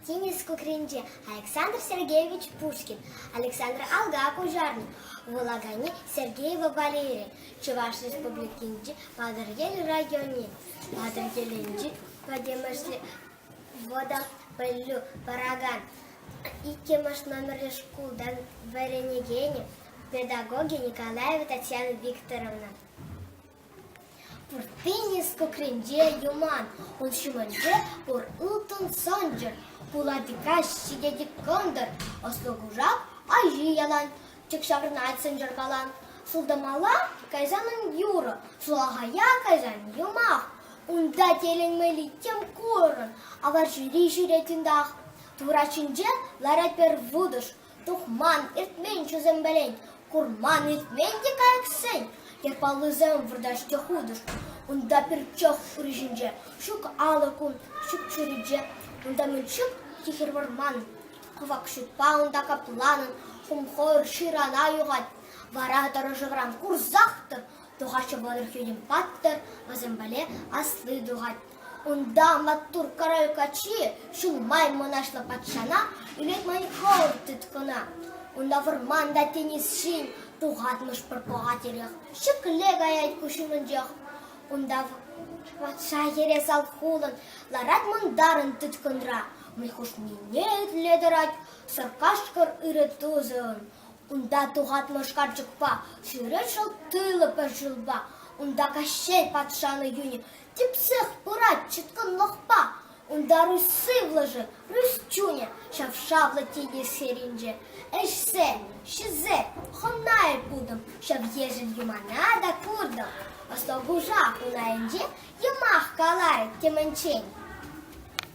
Тинӗс кукринче Александр Сергеевич Пушкин, Александр Алга Куҫарнӑ, вулаканӗ Сергеева Валерия, Чӑваш Республикинчи Патӑрьел районӗ, Патӑрьелӗнчи пӗтӗмӗшле Мода пӗлӳ паракан иккӗмӗш номерлӗ шкултан вӗренекенӗ педагогӗ Николаева Татьяна Викторовна. Пуртти нискукренче юман, ун ҫумӗнче урлӑн сӑнчӑр, пулатика ҫитет кӑнтӑр, ӑслӑ кушак аҫи ялан. Тӗк ҫаврӑнать сӑнчӑркалан. Сылтӑмалла кайсанӑн юрӑ, сулахая кайсан юмах. Унта тӗлӗнмелли тем курӑн, аварҫӑри ҫӳретӗнтах. Турат ҫинче ларать пӗр вутӑш, тухман иртмен чусембелен, курман иртмен те кайӑксен. Япалусем выртаҫ те хутӑш. Унта пирчок урисенче ҫук алӑк ун, ҫук чӳрече. Унта мӗн ҫук тихӗр вӑрман. Кӑвакҫупа унта капланӑн хумхӑр ҫырана юхать, вара тӑрӑшӑвран курсах тӑр, тухаҫҫӗ вӑтӑр хӳтӗм паттӑр, вӗсемпеле асли тухать. Унта маттур король каччи ҫул май мӑнаҫлӑ патшана илет маньхолл тыткӑна. Унта вӑрман та тинӗс ҫин тухатмӑш пӗр пӑхатирех. Ҫӗкле каять куҫ умӗнчех. Унта патша йӗре салхулӑн ларать мӑнтарӑн тыткӑнра. Выльхушнине итле тӑрать сӑркашкӑр ырӑ тусӗ. Унта тухатлӑ шкарчӑкпа, сӳрӗ шӑл тыллӑ пӗр шывпа, унта Каҫҫей патшалӑх юнӗ типсех пырать чӑткӑнлӑхпа. Унта Русь сывлӑшӗ, Русь чунӗ ҫав-шавлӑ тинӗс серинче. Ӗҫсем, ҫӗсем, хӑнайӑр путӑм, ҫав ешӗл юмана та куртӑм. Восток Уҫа хунайӗнче йӑмах каларӗ темӗнччен.